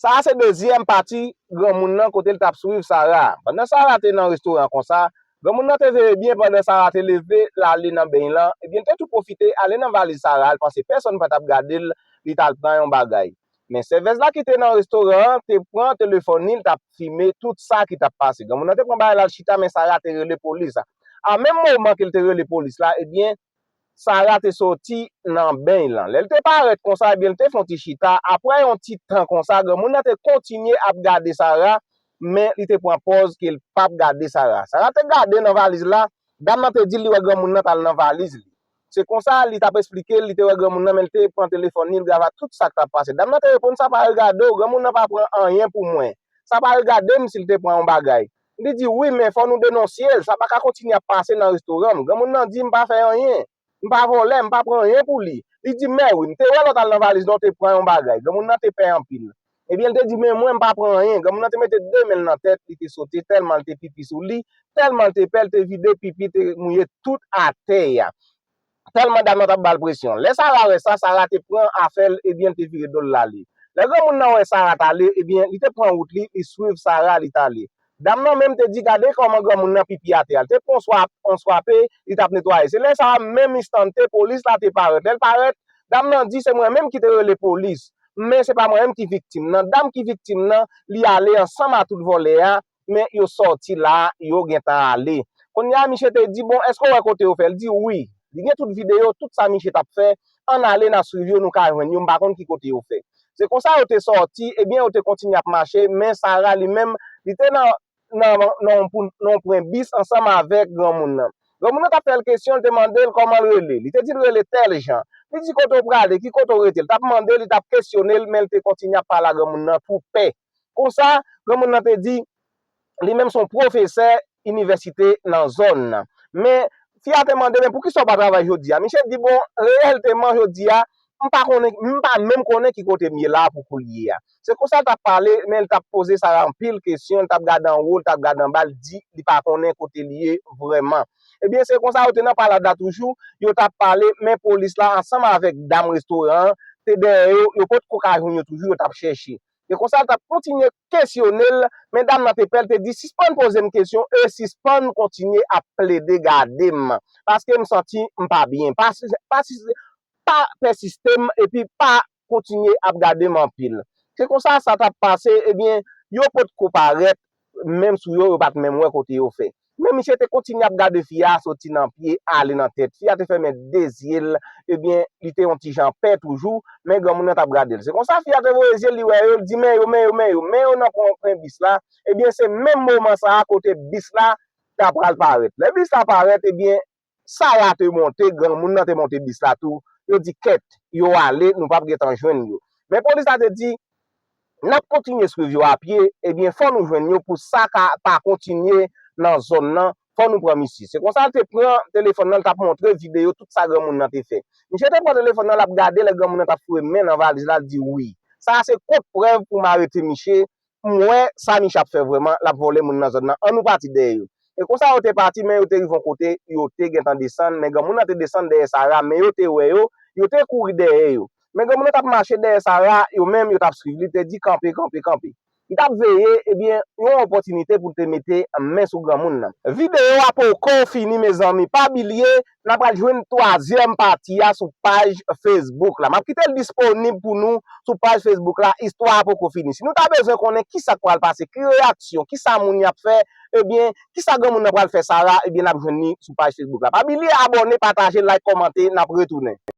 Sa a se dezyèm pati granmoun nan kote l t ap swiv Sara a. Pandan Sara te nan restoran an konsa, granmoun nan te veye byen pandan Sara te leve l ale nan beny lan, epi l te tou pwofite ale nan valiz Sara a, l panse pèsonn pa t ap gade l, li t al pran yon bagay. Men sèvèz la ki te nan restoran an te pran telefòn li, l t ap fime tout sa ki t ap pase. Granmoun nan te pran bagay l al chita men Sara te rele polis. A menm moman ke l te rele polis la, ebyen, Sara te soti nan beny lan. Lè l te parèt konsa, ebyen l te fon ti chita. Apre yon ti tan konsa, granmoun nan te kontinye ap gade Sara, men li te pran pòz ke l pap gade Sara. Sara te gade nan valiz la, dam nan te di l li wè granmoun nan t al nan valiz li. Se konsa li t ap esplike l li te wè granmoun nan men l te pran telefòn li, l grava tout sa k t ap pase. Dam nan te reponn, sa pa regade w, granmoun nan pa pran anyen pou mwen. Sa pa regade m si l te pran yon bagay. Li di, Wi, men fò nou denonsye l. Sa pa ka kontinye ap pase nan restoran m. Granmoun nan di, M pa fè anyen. M pa vòlè. M pa pran anyen pou li. Li di, Mèwi, m te wè lò w t al nan valiz lan w te pran yon bagay. Granmoun nan te pè anpil. Ebyen, l te di, Men mwen, m pa pran anyen. Granmoun nan te mete de men l nan tèt, li te sote tèlman l te pipi sou li, tèlman l te pè, l te vide pipi te mouye tout atè a. Tèlman dam nan t ap ba l presyon. Lè Sara wè sa, Sara te pran afè l, ebyen l te vire do l l ale. Lè granmoun nan wè Sara t ale, ebyen li te pran wout li, li swiv Sara, li t ale. Dam nan menm te di gade kòman granmoun nan pipi atè a. L te pran yon swape, li t ap netwaye. Se lè sa a, menm enstante, polis la te parèt. Lè l parèt, dam nan di se mwen menm ki te rele polis. Men se pa mwen menm ki viktim nan. Dam ki viktim nan, li ale ansanm a tout vòlè a. men yo sòti la yo gentan ale kounye a miche te di bon eske ou wè kote yo fè li di wi li gen tout videyo tout sa miche tap fè ann ale nan swiv yo nou ka jwenn yo m pa konn ki kote yo fè se konsa yo te sòti ebyen yo te kontinye ap mache men Sara li menm li te nan nan nan yon pwen bis ansanm avèk granmoun nan granmoun nan tap fè l kesyon li te mande l kòman l rele li te di l rele tèl jan li di kote ou prale ki kote ou rete li tap mande l li tap kesyone l men li te kontinye ap pale a granmoun nan tou pè. Konsa, granmoun nan te di, Li menm se yon pwofesè inivèsite nan zòn nan. Men, fi a te mande, Men poukisa ou pa travay jodi a? Misye di, Bon, reyèlteman jodi a, m pa konnen, m pa menm konnen ki kote m ye la a pou koulye a. Se konsa l t ap pale, men l t ap poze Sara anpil kesyon, l t ap gade anwo, l t ap gade anba, l di li pa konnen kote li ye vrèman. Ebyen, se konsa yo te nan palad la toujou, yo t ap pale, men polis la ansanm avèk dam restoran an te dèyè yo, yo potko ka jwenn yo toujou, yo t ap chèche. E konsa l t ap kontinye kesyone l, men dam nan te pè, l te di, Sispann poze m kesyon e sispann kontinye ap plede gade m, paske m santi m pa byen. Pa pèsiste m epi pa kontinye ap gade m anpil. Se konsa sa t ap pase, ebyen, yo potko parèt, menm sou yo, yo pat menm wè kote yo fè. Men misye te kontinye ap gade fi a soti nan pye ale nan tèt. Fi a te fèmen 2 zye l, ebyen li te yon ti jan pè toujou, men granmoun nan t ap gade l. Se konsa fi a te voye zye l li wè yo, li di men yo, men yo, men yo, men yo nan konpren bis la, ebyen se menm moman sa a kote bis la ta pral parèt. Lè bis la parèt ebyen Sara te monte, granmoun nan te monte bis la tou. Yo di kèt, yo ale, nou pap gen tan jwenn yo. Men polis la te di, n ap kontinye swiv yo a pye, ebyen fò nou jwenn yo pou sa ka pa kontinye nan zòn nan, fò nou pran misye. Se konsa l te pran telefòn nan, l t ap montre videyo tout sa granmoun nan te fè. Misye te pran telefòn nan, l ap gade lè granmoun nan t ap foure men nan valiz la, l di wi. Sa a se kont prèv pou m arete misye, M wè sa Misha ap fè vrèman, l ap vòlè moun nan zòn nan, annou pati dèyè yo. E konsa yo te pati men yo te rive yon kote yo te gentan desann men granmoun nan te desann dèyè Sara men yo te wè yo, yo te kouri dèyè yo. Men granmoun nan t ap mache dèyè Sara yo menm yo t ap swiv li, l te di kanpe, kanpe, kanpe. Li t ap veye ebyen yon opòtinite pou l te mete men sou granmoun nan. Videyo a poko fini mezanmi pa bilye nan pral jwenn twazyèm pati a sou paj Facebook la. M ap kite l disponib pou nou sou paj Facebook la, istwa a poko fini. Si nou ta bezwen konnen ki sa k pral pase, ki reyaksyon, ki sa moun y ap fè, ebyen, ki sa granmoun nan pral fè Sara, ebyen n ap jwenn li sou paj Facebook la. Pa bilye abòne, pataje, like, kòmante, n ap retounen.